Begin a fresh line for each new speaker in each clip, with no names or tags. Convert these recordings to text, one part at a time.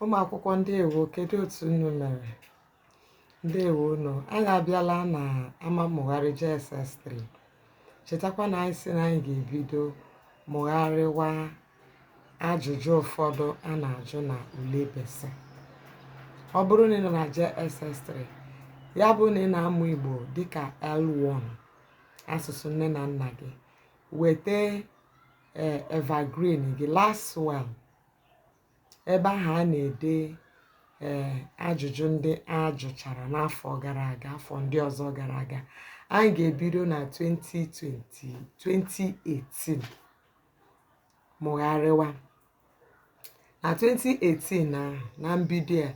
ụmụ akwụkwọ ndeewo kedu otu unu mere ndeewo unu anyị abịala na ama mmụgharị JSS3 chetakwa na anyị si na anyị ga-ebido mụgharịwa ajụjụ ụfọdụ a na-ajụ na ule BECE ọ bụrụ na ị nọ na JSS3 ya bụ na ị na-amụ Igbo dịka L1 asụsụ nne na nna gị weta eh, evergreen gị last one ebe ahụ a na-ede ee eh, ajụjụ ndị a jụchara n'afọ gara aga afọ ndị ọzọ gara aga anyị ga-ebido na 2020 2018 mụgharịwa na 2018 na na mbido a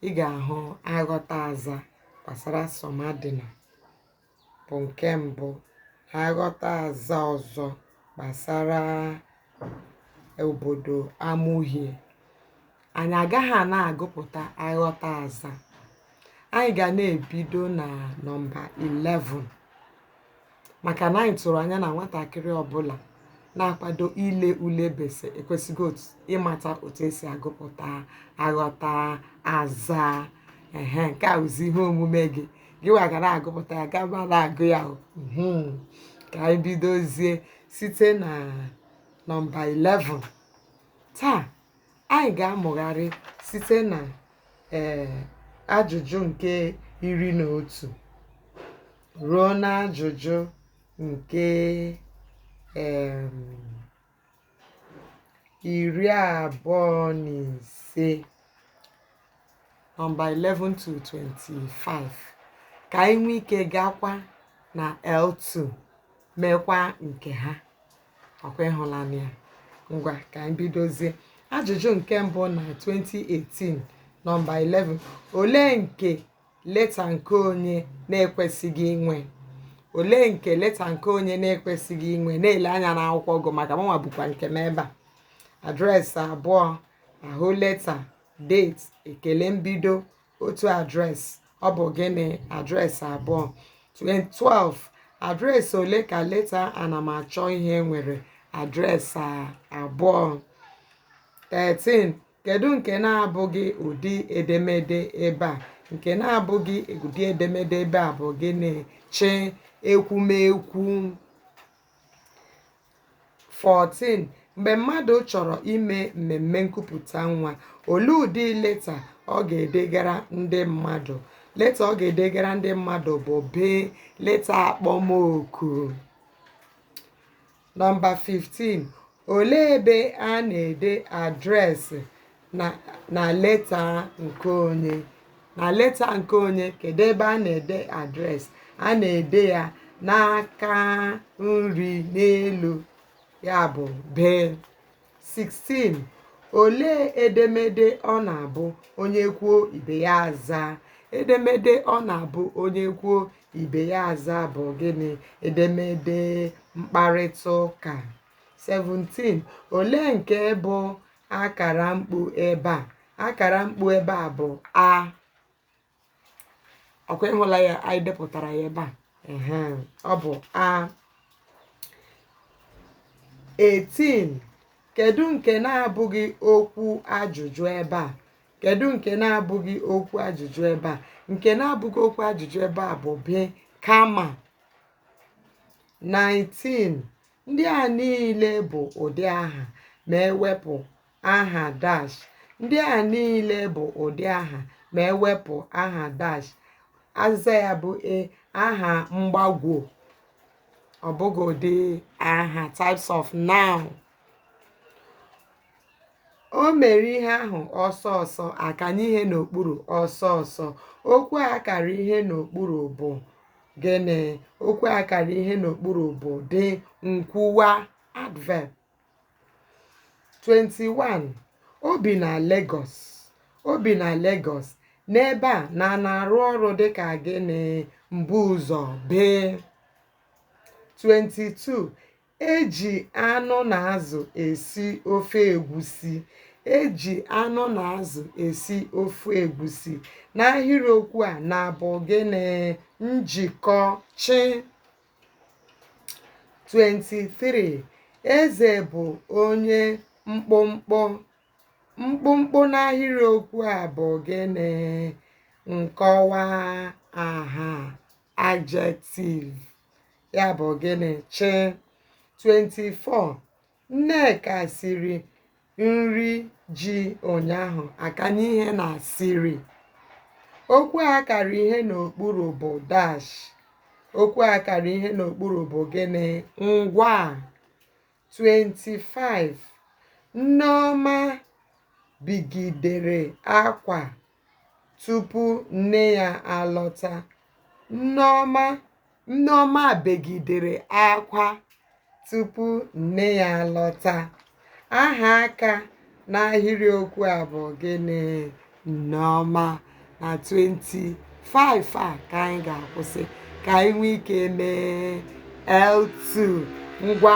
ị ga-ahụ aghọtaazaa gbasara Somadịna bụ nke mbụ aghọtaazaa ọzọ gbasara obodo Amuhie. Anyị agaghị na-agụpụta aghọtaazaa. Anyị ga na-ebido na nọmba 11 maka na anyị tụrụ anya na nwatakịrị ọbụla na-akwado ile ule BECE ekwesịgo otu- ịmata otu esi agụpụta aghọtaazaa ehe nke a wụzi ihe omume gị gị wa ga na-agụpụta ya gaba na-agụ ya o. Mhm. ka anyị bidozie site na nọmba 11 taa anyị ga-amụgharị site na ee ajụjụ nke iri na otu ruo n'ajụjụ nke em, iri abụọ na ise nọmba 11 to 25 ka anyị nwee ike gakwa na L2 meekwa nke ha ọ kwa ị hụlanị ya ngwa ka anyị bidozie ajụjụ nke mbụ na 2018 nọmba 11 olee nke leta nke onye na-ekwesịghị inwe? Olee nke leta nke onye na-ekwesịghị inwe? Na-ele anya n'akwụkwọ gị maka mụnwa bukwa nke m ebe a. Adreesị abụọ, ahụ leta, date, ekele mbido, otu adreesị. Ọ bụ gịnị? Adreesị abụọ. 12. Adreesị ole ka leta anamachọihe nwere? Adreesị abụọ. 13. Kedu nke na-abụghị ụdị edemede ebe a? Nke na-abụghị ụdị edemede ebe a bụ gịnị? CH ekwumekwu 14 mgbe mmadụ chọrọ ime mmemme nkupụta nwa olee ụdị leta ọ ga-edegara ndị mmadụ leta ọ ga-edegara ndị mmadụ bụ B leta akpọmoku Nọmba 15, Olee ebe a na-ede adreesị na na leta nke onye? Na leta nke onye, kedụ ebe a na-ede adreesị? A na-ede ya n'aka nri n'elu, ya bụ bee. 16 olee edemede ọ na-abụ onye kwuo ibe ya aza edemede ọ na-abụ onye kwuo ibe ya aza bụ gịnị edemede mkparịta ụka 17 olee nke bụ akara mkpu ebe a akara mkpu ebe a bụ a ọ kwa ị hụla ya anyị depụtara ya ebe a ọ bụ a 18 kedu nke na-abụghị okwu ajụjụ ebe a kedu nke na-abụghị okwu ajụjụ ebe a nke na-abụghị okwu ajụjụ ebe a bụ be kama 19 ndị a niile bụ ụdị aha ma e wepụ aha dash ndị a niile bụ ụdị aha ma e wepụ aha dash azịza ya bụ e aha mgbagwo ọ bụghị ụdị aha types of noun o mere ihe ahụ ọsọ ọsọ a kanye ihe n'okpuru ọsọ ọsọ okwu a kara ihe n'okpuru bụ gịnị okwu a kara ihe n'okpuru bụ dị nkwuwa adverb 21 o bi na Lagos o bi na Lagos n'ebe a na na-arụ ọrụ dịka gịnị mbuụzọ bee 22 e ji anụ na azụ esi ofe egwusi e ji anụ na azụ esi ofe egwusi n'ahịrịokwu a na bụ gịnị njikọ chị 23 eze bụ onye mkpụmkpụ mkpụmkpụ n'ahịrịokwu a bụ gịnị nkọwa aha adjective ya bụ gịnị chị 24 Nneka siri nri ji ụnyaahụ a kanye ihe na siri. Okwu a kara ihe n'okpuru bụ dash. Okwu a kara ihe n'okpuru bụ gịnị? Ngwa. 25. Nneọma begidere akwa tupu nne ya alọta. Nneọma Nneọma begidere akwa tupu nne ya alọta. Aha aka n'ahịrịokwu a bụ gịnị? Nneọma. Na 25 a ka anyị ga-akwụsị ka anyị nwee ike mee L2 ngwa